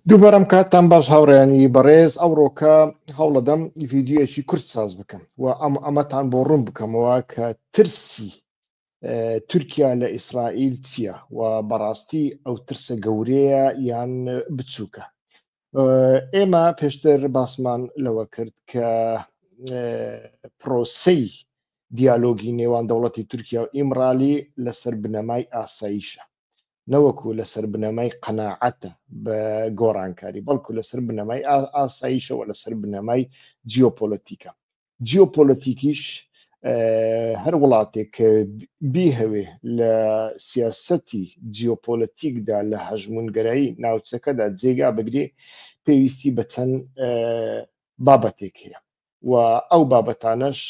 دووبارەم کاتتان باش هاوڕێیانی بەڕێز ئەوڕۆکە هەوڵەدەم ڤیددیوەکی کورت ساز بکەم و ئەم ئەمەتان بۆ ڕوون بکەمەوە کە ترسی تورکیا لە ئیسرائیل چییە و بەڕاستی ئەو ترسە گەورەیە یان بچووکە ئێمە پێشتر باسمان لەوە کرد کە پرۆسەی دیالۆگی نێوان دەوڵەتی تورکیا و ئیمرالی لەسەر بنەمای ئاساییشە نەوەکو لەسەر بنەمای قەناعەتە بە گۆڕانکاری بەڵکو لەسەر بنەمای ئاساییشەوە لەسەر بنەمای جیۆپۆلەتیکە جیۆپۆلەتیکیش هەر وڵاتێک کە بیهەوێ لە سیاسەتی جیۆپۆلەتیکدا لە هەژمونگەرایی ناوچەکەدا جێگا بگرێ پێویستی بە چەند بابەتێک هەیە و ئەو بابەتانەش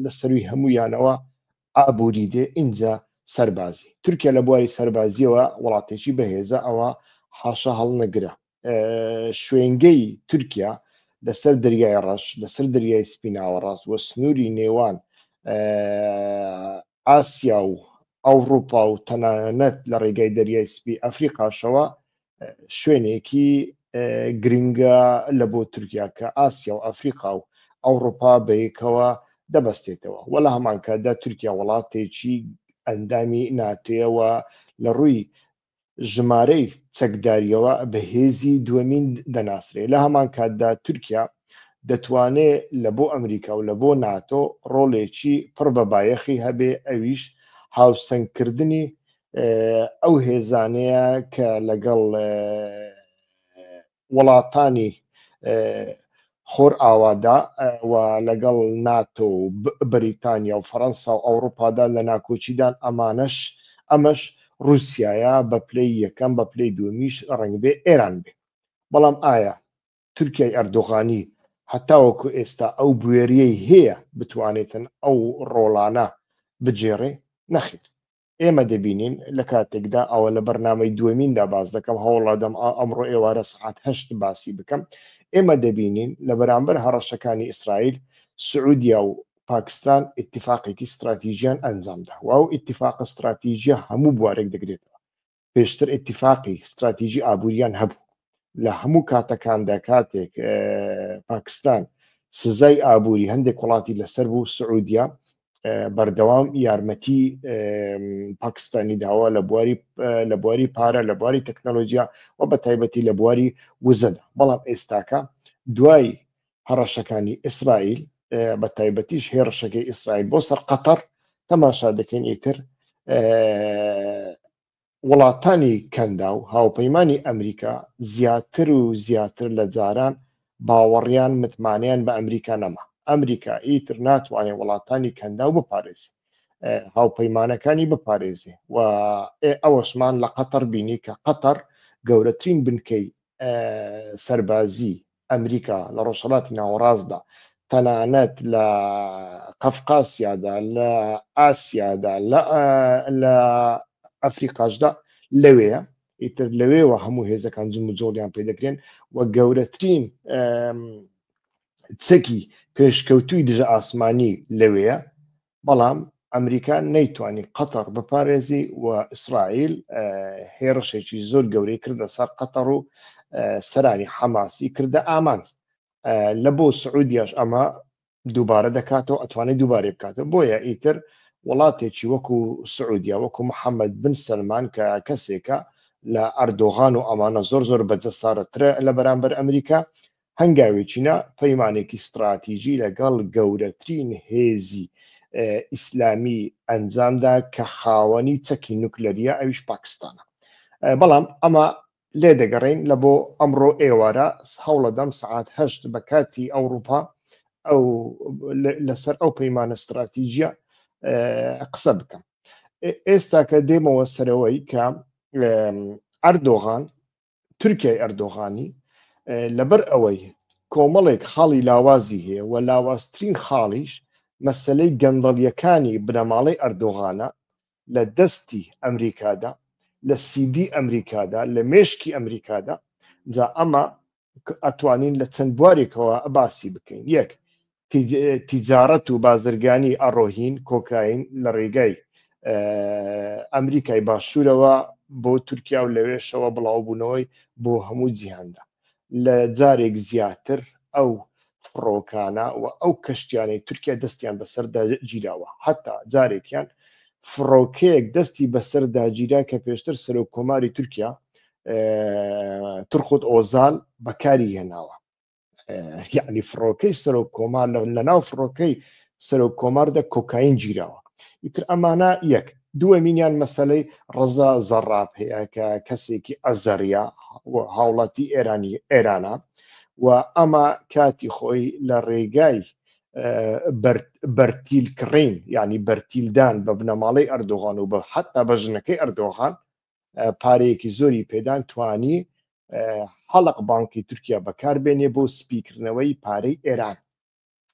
لە سەروی هەموویانەوە ئابووری دێ ئینجا سەربازی تورکیا لە بواری سەربازیەوە وڵاتێکی بەهێزە ئەوە حاشە هەڵنەگرە شوێنگەی تورکیا لەسەر دەریای ڕەش لەسەر دەریای سپیناوە ڕاست وە سنووری نێوان ئاسیا و ئەوروپا و تەنانەت لە ڕێگای دەریای سپی ئەفریقاشەوە شوێنێکی گرنگە لە بۆ تورکیا کە ئاسیا و ئەفریقا و ئەوروپا بەیەکەوە دەبەستێتەوە وە لە هەمانکاتدا تورکیا وڵاتێکی ئەندامی ناتێەوە لە ڕووی ژمارەی چەکداریەوە بەهێزی دووەمین دەناسرێ لە هەمان کاتدا تورکیا دەتوانێت لە بۆ ئەمریکا و لە بۆ ناتۆ ڕۆڵێکی پڕ بە بایەخی هەبێ ئەویش هاوسەنگکردنی ئەو هێزانەیە کە لەگەڵ وڵاتانی خۆر ئاوادا و لەگەڵ ناتۆ و بریتانیا و فەەنسا و ئەوروپادا لە ناکۆچیدان ئەمانەش ئەمەش رووسایە بە پلەی یەکەم بە پلەی دومیش ڕنگبێ ئێران بێ بەڵام ئایا تورکای ئەردۆغانی هەتاوەکو ئێستا ئەو بوێریەی هەیە بتوانێتن ئەو ڕۆڵانە بجێڕێ نەخیر ئێمە دەبینین لە کاتێکدا ئەوە لە بەرنمەی دومیندا باز دەکەم هەوڵادەم ئەمڕۆ ئێوارە سعات هەشت باسی بکەم ئێمە دەبینین لە بەرامبەر هەڕەشەکانی ئیسرائیل سعودیا و پاکستان اتفاقێکی استراتیژیان ئەنجامدا و ئەو اتفاق استراتیژە هەموو بوارێک دەگرێتەوە پێشتر ئتیفاقی ستراتیژی ئابووریان هەبوو لە هەموو کاتەکاندا کاتێک پاکستان سزای ئابووری هەندێک وڵاتی لەسەر بوو سعودیا بەردەوام یارمەتی پاکستانی داوا لە بواری لە بواری پارە لە بواری تەکنەلۆژیا و بە تایبەتی لە بواری وزەدا بەڵام ئێستاکە دوای هەڕەشەکانی ئیسرائیل بە تایبەتیش هێڕشەکەی ئیسرائیل بۆ سەر قەتەر تەماشا دەکەین ئیتر وڵاتانی کەندا و هاوپەیمانانی ئەمریکا زیاتر و زیاتر لە جاران باوەڕیان متمانیان بە ئەمریکا نەما ئەمریکا ئیتر ناتوانێت وڵاتانی کەندا و بپارێز هاوپەیمانەکانی بپارێزێ و ئەوەشمان لە قەتەر بینی کە قەتەر گەورەترین بنکەی سەربازی ئەمریکا، لە ڕۆژهەڵاتی ناوەڕاستدا، تەنانەت لە قەفقاسیادا، لە ئاسیادا، لە ئەفریقاشدا لەوێیە، ئیتر لەوێوە هەموو هێزەکان جموجۆڵیان پێ دەکرێن و گەورەترین چەکی پێشکەوتووی دژە ئاسمانی لەوێیە، بەڵام ئەمریکا نەیتوانی قەتەڕ بپارێزی و ئیسرائیل هێڕشێکی زۆر گەورەی کردە سەر قەتەڕ و سەرانی حەماسی کردە ئامانج لە بۆ سعودیش ئەمە دووبارە دەکاتەوە ئەتوانێت دووبارە بکاتەوە بۆیە ئیتر وڵاتێکی وەکو سعودیا وەکو محەممەد بن سلمان کە کەسێکە لە ئەردۆغان و ئەمانە زۆر زۆر بەجەسارەترە لە بەرامبەر ئەمریکا هەنگاوێکی نا پەیمانێکی ستراتیژی لەگەڵ گەورەترین هێزی ئیسلامی ئەنجامدا کە خاوەنی چەکی نوکلەریە ئەویش پاکستانە بەڵام ئەمە لێ دەگەڕین لە بۆ ئەمڕۆ ئێوارە هەوڵەدەم سعات هەشت بە کاتی ئەوروپا ئەو لەسەر ئەو پەیمانە ستراتیژە قسە بکەم ئێستا کە دێمەوە سەرەوەی کە ئەردۆغان تورکیای ئەردۆغانی لەبەر ئەوەی کۆمەڵێک خاڵی لاوازی هەیە و لاوازترین خاڵیش مەسلەی گەندەڵیەکانی بنەماڵەی ئەردۆغانە لە دەستی ئەمریکادا لە سیدی ئەمریکادا لە مێشکی ئەمریکادا جا ئەمە ئەتوانین لە چەند بوارێکەوە باسی بکەین یەک تیجارەت و بازرگانی ئەڕۆهین، کۆکاین، لە ڕێگای ئەمریکای باشوورەوە بۆ تورکیا و لەوێشەوە بڵاوبوونەوەی بۆ هەموو جیهاندا. لە جارێک زیاتر ئەو فڕۆکانە و ئەو کەشتیانەی تورکیا دەستیان بەسەردا گیراوە، هەتا جارێکیان فڕۆکەیەک دەستی بەسەردا گیرا کە پێشتر سەرۆککۆماری تورکیا تورخوت ئۆزال بەکاری هێناوە. یعنی فڕۆکەی سەرۆک کۆمار لە ناو فڕۆکەی سەرۆک کۆماردە کۆکاین گیراوە ئیتر ئەمانە یەک دووەمینیان مەسلەی ڕزا زەڕاب هەیە کە کەسێکی ئەزەریا هاوڵاتی ئێرانی ئێرانە و ئەمە کاتی خۆی لە ڕێگای بەرتیل کڕین ینی بەرتیلدان بە بنەماڵەی ئەردۆغان و بە حتا بە ژنەکەی ئەردۆغان پارەیەکی زۆری پێدان توانی حەڵق بانکی تورکیا بەکاربێنێ بۆ سپیکردنەوەی پارەی ئێران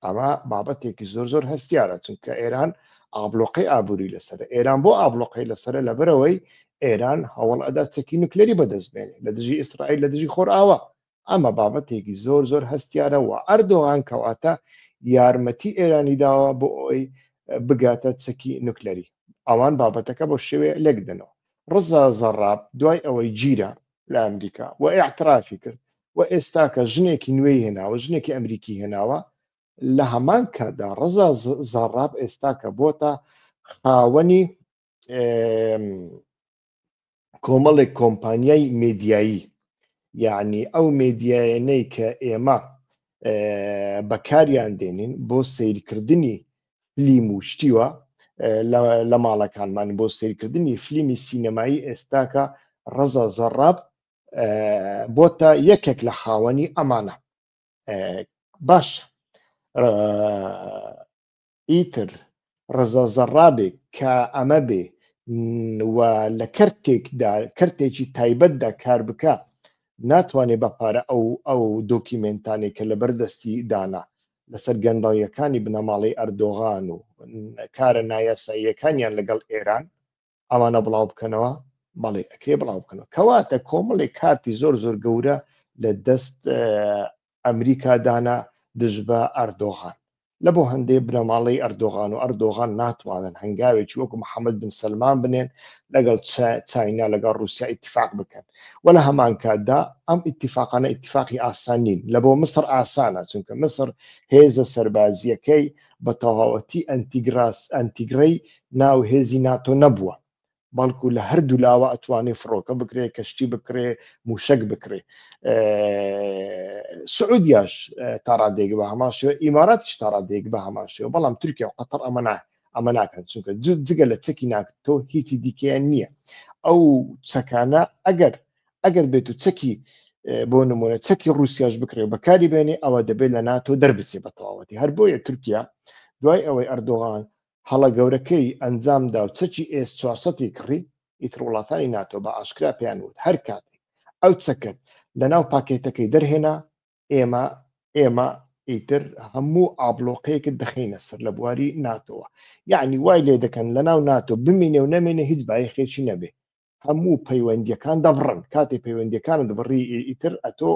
ئەمە بابەتێکی زۆر زۆر هەستیارە چونکە ئێران ئابلۆقی ئابووری لەسەر ئێران بۆ ئابلۆقی لەسەر لەبەرەوەی ئێران هەوڵ ئەدا چەکی نوکلری بەدەستبێنێ لە دژی ئیسرائیل لە دژی خۆرئاوا ئەمە بابەتێکی زۆر زۆر هەستیارە و ئەردۆغان کەواتە یارمەتی ئێرانی داوە بۆ ئەوی بگاتە چەکی نوکلەری ئەوان بابەتەکە بۆ شێوێ لێک دەنەوە ڕزا زەڕاب دوای ئەوەی گیرە لە ئەمریکا و ئاعترافی کرد و ئێستاکە ژنێکی نوێی هێناوە ژنێکی ئەمریکی هێناوە لە هەمان کاتدا ڕزا زەڕاب ئێستاکە بۆتە خاوەنی کۆمەڵێک کۆمپانیای مدیایی یعنی ئەو مدیایەنەی کە ئێمە بەکاریان دێنین بۆ سیرکردنی فلیم و شتیوە لە ماڵەکانمان بۆ سیرکردنی فلیمی سینەمایی ئێستاکە ڕەزا زەڕاب بۆ تا یەکێک لە خاوەنی ئەمانە باش ئیتر ڕەزا زەڕابێک کا ئەمە بێ و لە کەرتێکدا کەرتێکی تایبەتدا کار بکا ناتوانێ بە پارە ئەو ئەو دۆکیمێنتانێک کە لەبەر دەستی دانا لەسەر گەندەڵیەکانی بنەماڵەی ئەردۆغان و کارە نایاساییەکانیان لەگەڵ ئێران ئەوانە بڵاو بکەنەوە بەڵێ ئەکرێ بڵاو بکەنەوە کەواتە کۆمەڵێک کارتی زۆر زۆر گەورە لە دەست ئەمریکا دانا دژ بە ئەردۆغان لە بۆ هەندێ بنەماڵەی ئەردۆغان و ئەردۆغان ناتوانن هەنگاوێکی وەکو محەممەد بن سلمان بنێن لەگەڵ چاینا لەگەڵ رووسیا اتفاق بکەن و لە هەمان کاتدا ئەم اتفاقانە اتفاقی ئاسان نین لە بۆ مسر ئاسانە چونکە مسر هێزە سەربازیەکەی بە تەواوەتی ئەنتیگراس، ئەنتیگرەی ناو هێزی ناتۆ نەبووە، بەڵکو لە هەردوو لاوە ئەتوانێ فڕۆکە بکرێ، کەشتی بکڕێ، مووشەک بکڕێ. سعودیاش تا ڕادەیەک بە هەمان شێوە، ئیماراتیش تا ڕادەیەک بە هەمان شێوە، بەڵام تورکیا و قەتەڕ ئەمە نا ئەمە ناکەن، چونکە جگە لە چەکی ناتۆ هیچی دیکەیان نییە. ئەو چەکانە ئەگەر ئەگەر بێت و چەکی بۆ نمونە چەکی رووسیاش بکرێ و بەکاری بێنێ ئەوە دەبێت لە ناتۆ دەربچێ بە تەواوەتی هەر بۆیە تورکیا دوای ئەوەی ئەردۆغان هەڵە گەورەکەی ئەنجامدا و چەکی ئێس 400 کڕی ئیتر وڵاتانی ناتۆ بە ئاشکرا پێیان وت هەر کاتێک ئەو چەکەت لەناو پاکێتەکەی دەرهێنا ئێمە ئێمە ئیتر هەموو ئابلۆقەیەکت دەخینە سەر لە بواری ناتۆوە یعنی وای لێ دەکەن لە ناو ناتۆ بمینێ و نەمێنێ هیچ بایخێکی نەبێ هەموو پەیوەندیەکان دەبڕن کاتی پەیوەندیەکان دەبڕی ئیتر ئەتۆ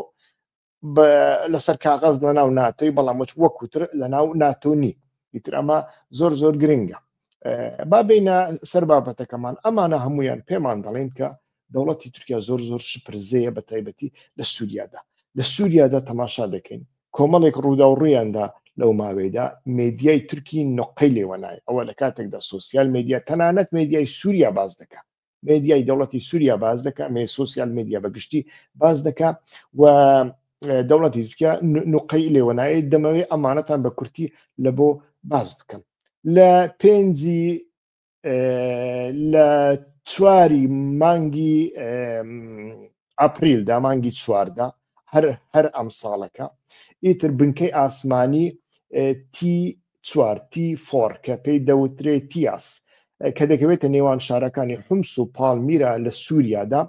لەسەر کاغەز لە ناو ناتۆی بەڵام مچ وەکوتر لە ناو ناتۆنی ئیتر ئەمە زۆر زۆر گرنگە با بینە سەر بابەتەکەمان ئەمانە هەمویان پێمان دەڵێن کە دەوڵەتی تورکیا زۆر زۆر شپرزەیە بە تایبەتی لە سووریادا لە سووریادا تەماشا دەکەین کۆمەڵێک ڕووداو ڕوویاندا لەو ماوەیەدا مێدیای تورکی نقەی لێوەنای ئەوە لە کاتێکدا سوسیال مدیا تەنانەت مێدیای سووریا باز دەکە مێدیای دەوڵەتی سووریا باز دەکە مێ سوسیال مدیا بە گشتی باز دەکە و دەوڵەتی تورکیا نقەی لێوەنایە دەمەوێت ئەمانەتان بە کورتی لە بۆ باز بکەم لە پێنجی لە چواری مانگی ئەپریل دامانگی چواردا هەر هەر ئەم ساڵەکە ئیتر بنکەی ئاسمانی تی چوارتی فۆر کە پێی دەوترێ تیاس کە دەکەوێتە نێوان شارەکانی حمس و پاڵمیرا لە سووریادا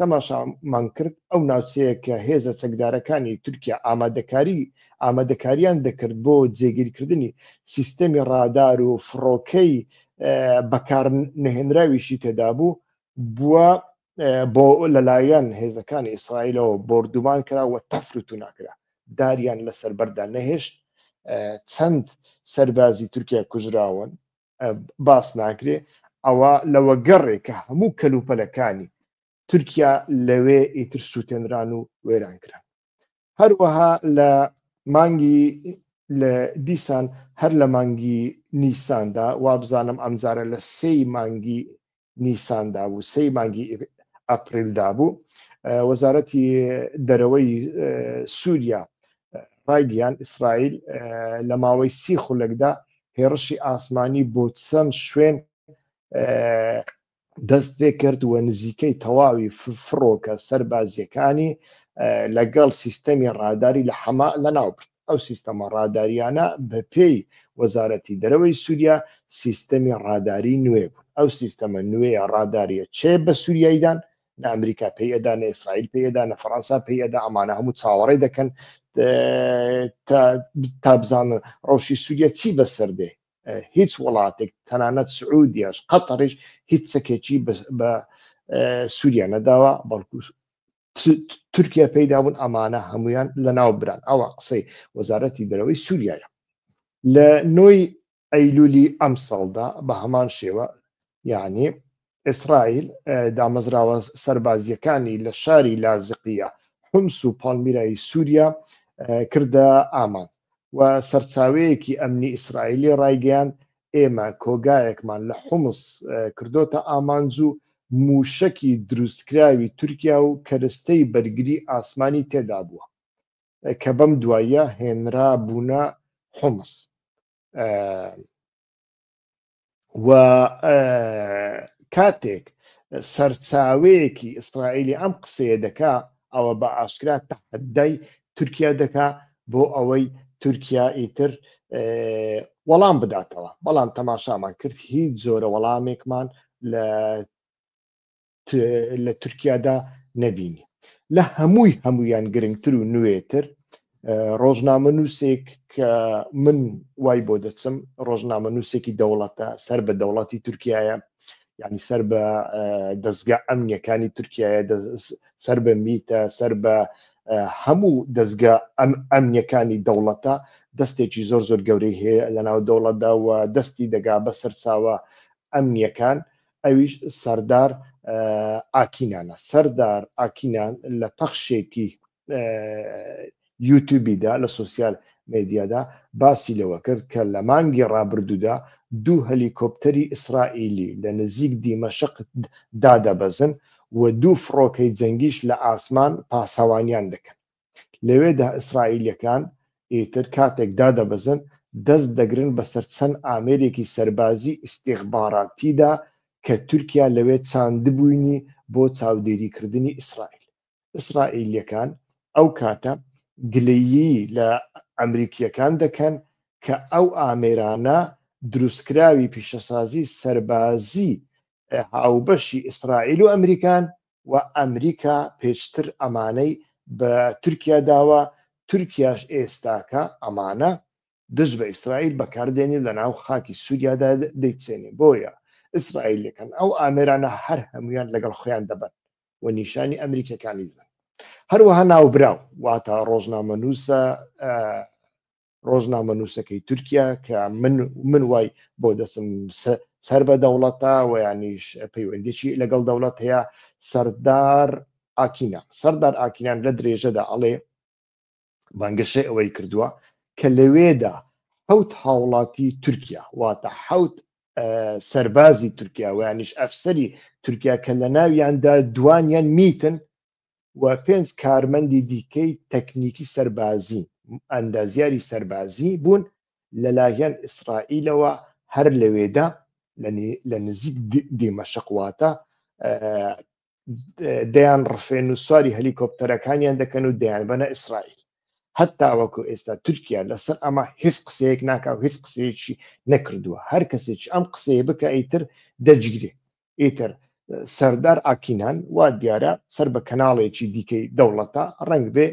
تەماشامان کرد ئەو ناوچەیە کە هێزە چەکدارەکانی تورکیا ئامادەکاری ئامادەکاریان دەکرد بۆ جێگیرکردنی سیستەمی ڕادار و فڕۆکەی بەکار نەهێنراویشی تێدا بوو بووە بۆ لەلایەن هێزەکانی ئیسرائیلەوە بردومان کرا و تەفروتو ناکرا داریان لەسەر بەردا نەهێشت چەند سەربازی تورکیا کوژراون باس ناکرێ ئەوە لەوە گەڕێک کە هەموو کەلوپەلەکانی تورکیا لەوێ ئیتر سووتێنران و وێران کران هەروەها لە مانگی لە دیسان هەر لە مانگی نیساندا وابزانم ئەمجارە لە سێی مانگی نیساندا بوو سەی مانگی ئەپریلدا بوو وەزارەتی دەرەوەی سووریا ڕایگەیان ئیسرائیل لە ماوەی سی خولەکدا هێڕشی ئاسمانی بۆ چەند شوێن دەست پێ کرد و نزیکەی تەواوی فڕۆکە سەربازیەکانی لەگەڵ سیستەمی ڕاداری لە حەما لە ناوبرد ئەو سیستەمە ڕادارییانە بەپێی وەزارەتی دەرەوەی سووریا سیستەمی ڕاداری نوێ بوون. ئەو سیستەمە نوێیە ڕادارییە چ بە سووریایی دان، نە ئەمریکا پێی ئەدا، نە ئیسرائیل پێی ئەدا، نە فەرەنسا پێی ئەدا، ئەمانە هەموو چاوەڕێ دەکەن تا بزانن ڕەوشی سووریا چی بەسەر دێ. هیچ وڵاتێک تەنانەت سعودیاش قەتەڕیش هیچ چەکێکی بە سووریا نەداوە، بەڵکو تورکیا پێیدا بوون ئەمانە هەمویان لە ناو بران ئەوە قسەی وەزارەتی دەرەوەی سووریایە لە نۆی ئەیلولی ئەم ساڵدا بە هەمان شێوە یعنی ئیسرائیل دامەزراوە سربازیەکانی لە شاری لازقیە حمس و پاڵمیرایی سووریا کردە ئامانج و سەرچاوەیەکی ئەمنی ئیسرائیلی ڕایگەیان ئێمە کۆگایەکمان لە حومس کردۆتە ئامانج و مووشەکی دروستکراوی تورکیا و کەرستەی بەرگری ئاسمانی تێدا بووە کە بەم دواییە هێنرابوونە حومس و کاتێک سەرچاوەیەکی ئیسرائیلی ئەم قسەیە دەکا ئەوە بە ئاشکرا تەحەدای تورکیا دەکا بۆ ئەوەی تورکیا ئیتر وەڵام بداتەوە بەڵام تەماشامان کرد هیچ زۆرە وەڵامێکمان لە لە تورکیادا نەبینی لە هەمووی هەمویان گرنگتر و نوێتر ڕۆژنامەنووسێک کە من وای بۆ دەچم ڕۆژنامەنووسێکی دەوڵەتە سەر بە دەوڵەتی تورکایە یعنی سەر بە دەستگا ئەمنیەکانی تورکایە سەر بە میتە سەر بە هەموو دەستگا ئەم ئەمنیەکانی دەوڵەتە دەستێکی زۆر زۆر گەورەی هەیە لە ناو دەوڵەتدا و دەستی دەگا بە سەرچاوە ئەمنیەکان ئەویش سەردار ئاکینانە سەردار ئاکینان لە پەخشێکی یوتوبیدا لە سوسیال مدیادا باسی لەوە کرد کە لە مانگی ڕابردوودا دوو هەلیکۆپتەری ئیسرائیلی لە نزیک دیمەشق دادەبەزن و دوو فڕۆکەی جەنگیش لە ئاسمان پاسەوانیان دەکەن لەوێدا ئیسرائیلەکان ئیتر کاتێک دادەبەزن دەست دەگرن بەسەر چەند ئامێرێکی سەربازی ئیسیخباراتیدا کە تورکیا لەوێ چاندبووینی بۆ چاودێریکردنی ئیسرائیل ئیسرائیلیەکان ئەو کاتە گلەیی لە ئەمریکیەکان دەکەن کە ئەو ئامێرانە دروستکراوی پیشەسازی سەربازی هاوبەشی ئیسرائیل و ئەمریکان و ئەمریکا پێشتر ئەمانەی بە تورکیا داوە تورکیاش ئێستاکە ئەمانە دژ بە ئیسرائیل بەکاردێنی لە ناو خاکی سووریادا دەیچێنێ بۆیە ئیسرائیلەکەن ئەو ئامێرانە هەر هەمویان لەگەڵ خۆیان دەبن و نیشانی ئەمریکەکانی بدەن هەروەها ناوبراو واتە ڕۆژنامەنووسە ڕۆژنامە نووسەکەی تورکیا کە من من وای بۆ دەسم سەر بە دەوڵەتە و یانیش پەیوەندێکی لەگەڵ دەوڵەت هەیە سەردار ئاکینان سەردار ئاکینان لە درێژەدا ئەڵێ بانگەشەی ئەوەی کردووە کە لەوێدا حوت هاوڵاتی تورکیا واتە حوت سەربازی تورکیا ویانیش ئەفسری تورکیا کە لە ناویاندا دوانیان میتن و پێنج کارمەندی دیکەی تەکنیکی سەربازی ئەندازیاری سەربازی بوون لەلایەن ئیسرائیلەوە هەر لەوێدا لە نزیک دیمەشقواتە دەیان ڕفێن و سواری هەلیکۆپتەرەکانیان دەکەن و دەیان بەنە ئیسرائیل هەتا وەکو ئێستا تورکیا لەسەر ئەمە هیچ قسەیەک ناکا و هیچ قسەیەکی نەکردووە هەر کەسێک ئەم قسەیە بکە ئیتر دەجگرێ ئیتر سەردار ئاکینان وا دیارە سەر بە کەناڵێکی دیکەی دەوڵەتە ڕنگ بێ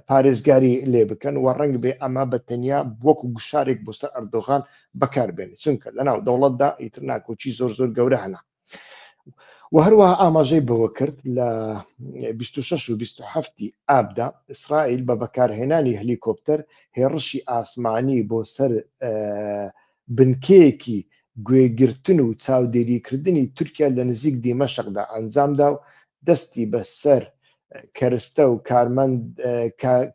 پارێزگاری لێ بکەن و ڕنگ بێ ئەمە بە تەنیا وەکو گوشارێک بۆ سەر ئەردۆغان بەکاربێن چونکە لەناو دەوڵەتدا ئیتر ناکۆکی زۆر زۆر گەورە هەنا و هەروە ئاماژەی بەوە کرد لە 26 و 27 ئابدا ئیسرائیل بە بەکارهێنانی هەلیکۆپتەر هێڕشی ئاسمانی بۆ سەر بنکەیەکی گوێگرتن و چاودێریکردنی تورکیا لە نزیک دیمەشقدا ئەنجامدا و دەستی بە سەر کەرستە و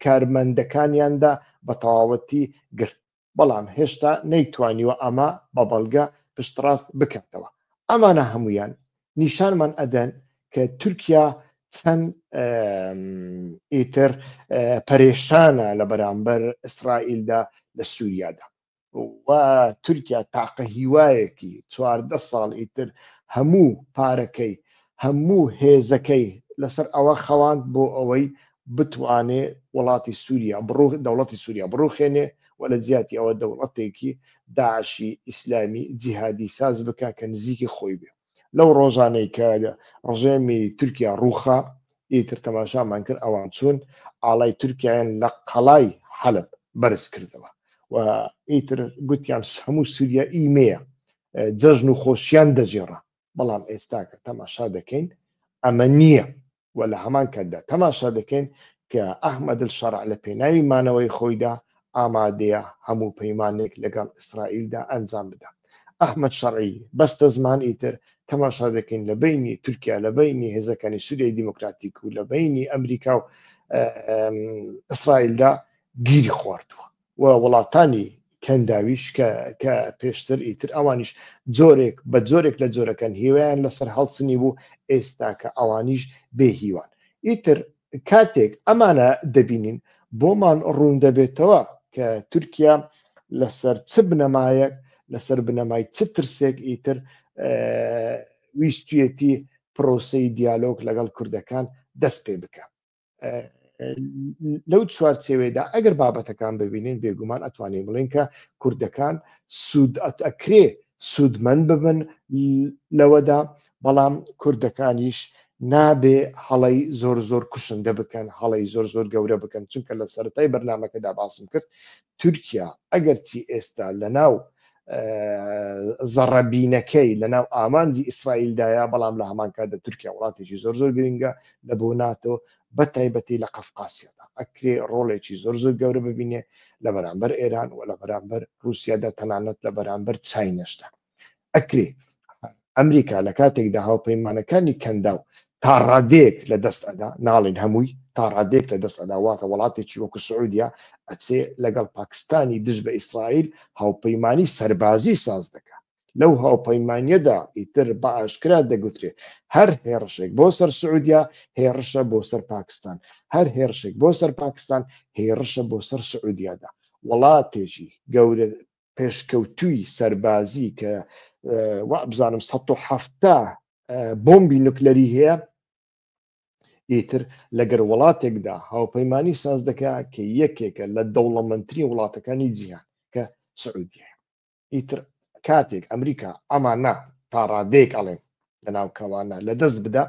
کارمەندەکانیاندا بە تەواوەتی گرت، بەڵام هێشتا نەیتوانیوە ئەمە بە بەڵگە پشتڕاست بکاتەوە. ئەمانە هەموویان نیشانمان ئەدەن کە تورکیا چەند ئیتر پەرێشانە لە بەرامبەر ئیسرائیلدا لە سووریادا. و تورکیا تاقە هیوایەکی چواردە ساڵ ئیتر هەموو پارەکەی هەموو هێزەکەی لەسەر ئەوە خەواند بۆ ئەوەی بتوانێ وڵاتی سووریا بڕوخ دەوڵەتی سووریا بڕوخێنێ و لە جیاتی ئەوە دەوڵەتێکی داعشی ئیسلامی جیهادی ساز بکە کە نزیکی خۆی بێ لەو ڕۆژانەی کە ڕژێمی تورکیا ڕووخا ئیتر تەماشامان کرد ئەوان چوون ئاڵای تورکیایان لە قەڵای حەلب بەرز کردەوە و ئیتر گوتیان هەموو سووریا ئیمەیە جەژن و خۆشیان دەجێڕا بەڵام ئێستاکە تەماشا دەکەین ئەمە نییە و لە هەمان کاتدا تەماشا دەکەین کە ئەحمەدلشەرع لە پێناوی مانەوەی خۆیدا ئامادەیە هەموو پەیمانێک لەگەڵ ئیسرائیلدا ئەنجام بدا. ئەحمەد شەرعی، بەستەزمان ئیتر تەماشا دەکەین لە بەینی تورکیا، لە بەینی هێزەکانی سووریای دیموکراتیک و لە بەینی ئەمریکا و ئیسرائیلدا گیری خواردووە. و وڵاتانی کەنداویش کە کە پێشتر ئیتر ئەوانیش جۆرێک بە جۆرێک لە جۆرەکەن هیوایان لەسەر هەڵچنی بوو ئێستا کە ئەوانیش بێ هیوان ئیتر کاتێک ئەمانە دەبینین بۆمان ڕوون دەبێتەوە کە تورکیا لەسەر چ بنەمایەک لەسەر بنەمای چ ترسێک ئیتر ویستویەتی پرۆسی دیالۆک لەگەڵ کوردەکان دەست پێ بکە لەو چوارچێوێدا ئەگەر بابەتەکان ببینین بێگومان ئەتوانین بڵین کە کوردەکان سوود ئەکرێ سوودمەند ببن لەوەدا بەڵام کوردەکانیش نابێ هەڵی زۆر زۆر کوشندە بکەن هەڵی زۆر زۆر گەورە بکەن چونکە لە سەرای بەرنمەکەدا باسم کرد تورکیا ئەگەرچی ئێستا لەناو زەڕەبینەکەی لەناو ئامانجی ئیسرائیلدایە بەڵام لە هەمان کاتدا تورکیا وڵاتێکی زۆر زۆر گرنگە لە بۆ ناتۆ بە تایبەتی لە قەفقاسیەدا ئەکرێ ڕۆڵێکی زۆر زۆر گەورە ببینێ لە بەرامبەر ئێران و لە بەرامبەر رووسیادا تەنانەت لە بەرامبەر چاینەشدا ئەکرێ ئەمریکا لە کاتێکدا هاوپەیمانەکانی کەنداو تا ڕادێک لە دەست ئەدا ناڵین هەمووی تا ڕادێک لە دەست ئەدا واتە وڵاتێکی وەکو سعودیا ئەچێ لەگەڵ پاکستانی دژ بە ئیسرائیل هاوپەیمانی سەربازی ساز دەکات لەو هاوپەیمانیەدا ئیتر بە ئاشکرا دەگوترێت هەر هێڕشێک بۆ سەر سعودیا هێڕشە بۆ سەر پاکستان هەر هێرشێک بۆ سەر پاکستان هێڕشە بۆ سەر سعودیادا وڵاتێکی گەورە پێشکەوتووی سەربازی کە وابزانم 1970 بۆمبی نوکلەری هەیە ئیتر لەگەر وڵاتێکدا هاوپەیمانانی ساز دەکە کە یەکێکە لە دەوڵەمەندترین وڵاتەکانی جیهان کە سعودیە ئیتر کاتێک ئەمریکا ئەمانە تا ڕادێک ئەڵێن لە ناوکەوانە لە دەست بدا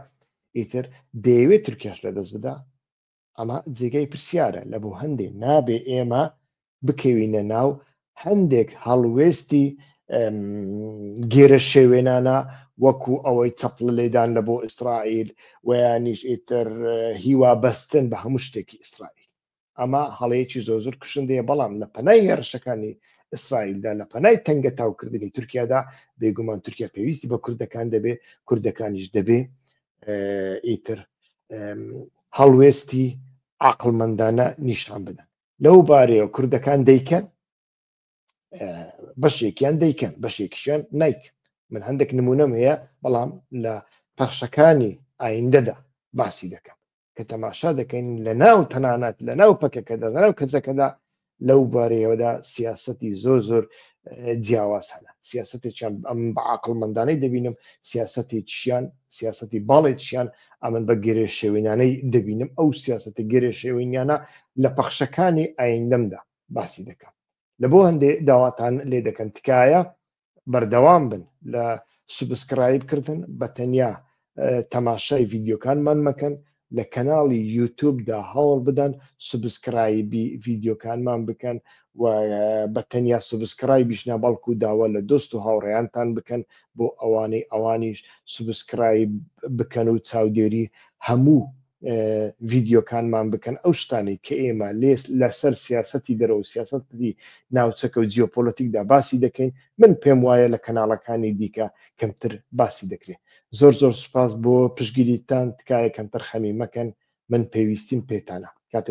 ئیتر دەیەوێت تورکیاش لە دەست بدا ئەمە جێگای پرسیارە لە بۆ هەندێ نابێ ئێمە بکەوینە ناو هەندێک هەڵوێستی گێرە شێوێنانە وەکو ئەوەی چەپڵ لێدان لە بۆ ئیسرائیل ویانیش ئیتر هیوا بەستن بە هەموو شتێکی ئیسرائیل ئەمە هەڵەیەکی زۆ زۆر کوشندەیە بەڵام لە پەنای هێرشەکانی ئیسرائیلدا لە پەنای تەنگە تاوکردنی تورکیادا بێگومان تورکیا پێویستی بە کوردەکان دەبێ کوردەکانیش دەبێ ئیتر هەڵوێستی عقلمەندانە نیشان بدەن لەو بارەیە کوردەکان دەیکەن بەشێکیان دەیکەن بەشێکیشیان نیکن من هەندێک نمونەم هەیە بەڵام لە پەخشەکانی ئایندەدا باسی دەکەم کە تەماشا دەکەین لە ناو تەنانەت لە ناو پەکەکەدا لە ناو کەسەکەدا لەو بارەیەوەدا سیاستی زۆر زۆر جیاواز هەنە سیاستێکیان ئەم بە عقلمەندانەی دەبینم سیاستی چیان سیاستی باڵێکیان ئەمن بە گرێ شێوینانەی دەبینم ئەو سیاستە گرێ شێوینیانە لە پەخشەکانی ئایندەمدا باسی دەکەم لە بۆ هەندێ داواتان لێ دەکەن تکایە بەردەوام بن لە سوبسکرایب کردن بە تەنیا تەماشای ڤیددیوکانمان مەکەن لە کەناڵی یوتوبدا هەوڵ بدەن سوبسکرایبی ڤیددیوکانمان بکەن و بە تەنیا سوبسکرایبیش نابەڵکو داوا لە دۆست و هاوڕێیانتان بکەن بۆ ئەوانەی ئەوانیش سوبسکرایب بکەن و چاودێری هەموو ڤیدیۆکانمان بکەن ئەو شتانی کە ئێمە لێس لەسەر سیاستی دەرەوە سیاستی ناوچەکە و جیۆپۆلەتیکدا باسی دەکەین من پێم وایە لە کەناڵەکانی دیکە کەمتر باسی دەکرێت زۆر زۆر سوپاس بۆ پشگیریتان تکایە کەمتەر خەمی مەکەن من پێویستیم پێتانە کاتێ